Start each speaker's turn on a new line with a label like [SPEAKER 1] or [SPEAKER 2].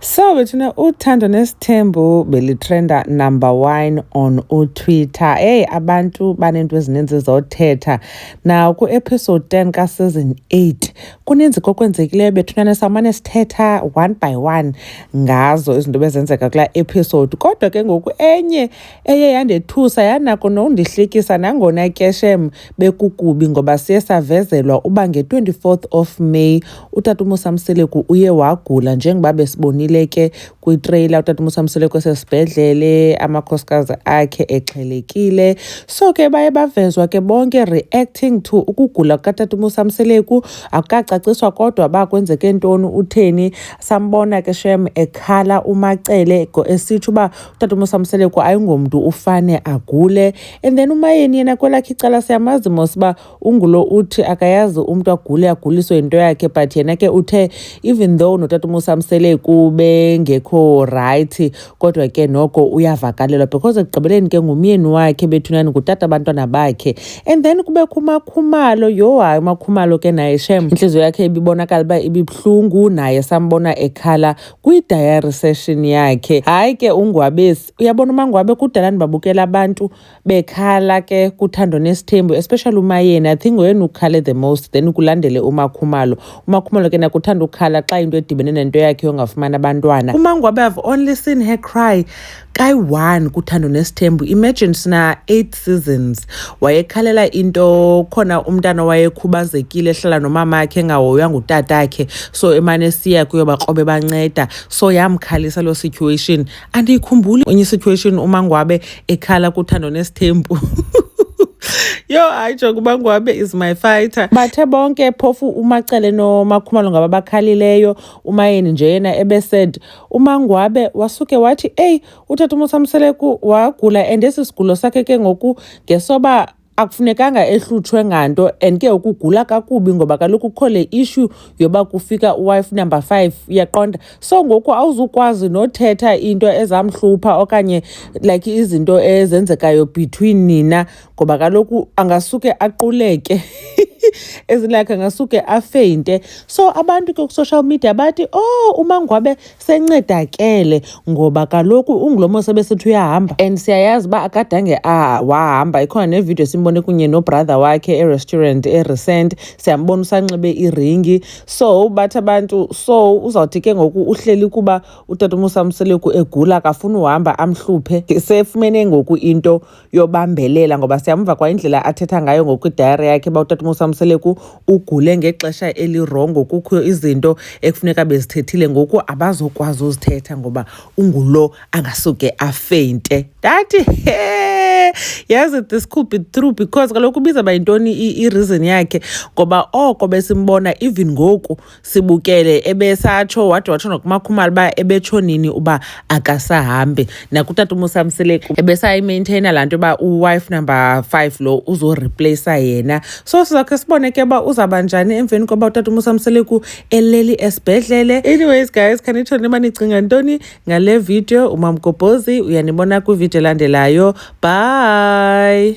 [SPEAKER 1] So bethuna uthando nesithembu belitrenda number one on utwitter eyi abantu baneento ezininzi zothetha naw kwi-episode 10 kaseason 8 kuninzi kokwenzekileyo bethunane samane sithetha one by one ngazo izinto bezenzeka kulaa episode kodwa ke ngoku enye eye yandethusa yanako nokundihlekisa nangona ke shem bekukubi ngoba siye savezelwa uba nge-24 of May uTatumusa Mseleku uye wagula njengoba besibonile ke kwitreyila uTatumusa Mseleku esesibhedlele amakhosikazi akhe exhelekile so ke baye bavezwa ke bonke reacting to ukugula kukaTatumusa Mseleku akukacaciswa kodwa ba kwenzeke ntoni utheni sambona ke shem ekhala umacele esitsho uba utata uMosamseleko ayingomntu ufane agule and then umayeni yena kwelakhe icala siyamazi mos uba ungulo uthi akayazi umntu agule aguliswe yinto yakhe but yena ke uthe even though notata uMosamseleko bengekho rayithi kodwa ke noko uyavakalelwa because ekugqibeleni ke ngumyeni wakhe bethunani ngutata abantwana bakhe and then kubekho umakhumalo yho hayi umakhumalo ke naye shem intliziyo yakhe ibibonakala uba ibibuhlungu naye sambona ekhala kwi-diary session yakhe hayi ke ungwabesi uyabona umangwabe kudala ndibabukela abantu bekhala ke kuthando nesithembu especially umayeni i think ngoyena ukhale the most then kulandele umakhumalo umakhumalo ke nakuthanda ukukhala xa into edibene nento yakhe yongafumani abantwana umangwabe i've only seen her cry Kai one kuthando nesithembu imagine sina eight seasons wayekhalela into khona umntana wayekhubazekile ehlala nomama akhe engahoywa ngutata akhe so emane siya kuyo bakrobe banceda so yamkhalisa loo situation andiyikhumbuli enye situation umangwabe ekhala kuthando nesithembu yo hayi njengoba ngwabe is my fighter bathe bonke phofu umacele nomakhumalo ngaba bakhalileyo umayeni nje yena ebesaid umangwabe wasuke wathi eyi utata umosamseleku wagula and esi sigulo sakhe ke ngoku ngesoba akufunekanga ehlutshwe nganto and ke ukugula kakubi ngoba kaloku kukho le issue yoba kufika uwife number five uyaqonda so ngoku awuzukwazi nothetha into ezamhlupha okanye like izinto ezenzekayo between nina ngoba kaloku angasuke aquleke as like angasuke afeyinte so abantu ke ku-social media bathi oh umangwabe sencedakele ngoba kaloku ungulomo sebesithi uyahamba and siyayazi uba akadange ah, wahamba ikhona nevidiyo simbone kunye nobrother wakhe erestaurant erecent siyambona usanxibe iringi so bathi abantu so uzawuthi ke ngoku uhleli kuba utata umusamseleku egula akafuni uhamba amhluphe sefumene ngoku into yobambelela ngoba siyamva kwa indlela athetha ngayo ngokwidayari yakhe uba utatumusa mseleku ugule ngexesha elirongo kukho izinto ekufuneka bezithethile ngoku abazokwazi uzithetha ngoba ungulo angasuke afeyinte ndathi he yazi this could be true because kaloku ubiza bayintoni i-reason yakhe ngoba oko besimbona even ngoku sibukele ebesatsho wade watsho nokumakhumalo uba ebetsho nini uba akasahambi nakutata umusamseleku ebesayimaintaina laa nto uba uwife number five lo uzorepleyisa yena so sizakhe sibone ke uba uzawuba njani emveni koba utata umusamseleku eleli esibhedlele anyways guys khanitsho niba nicinga ntoni ngale video umamgobhozi uyanibona kwividiyo elandelayo bye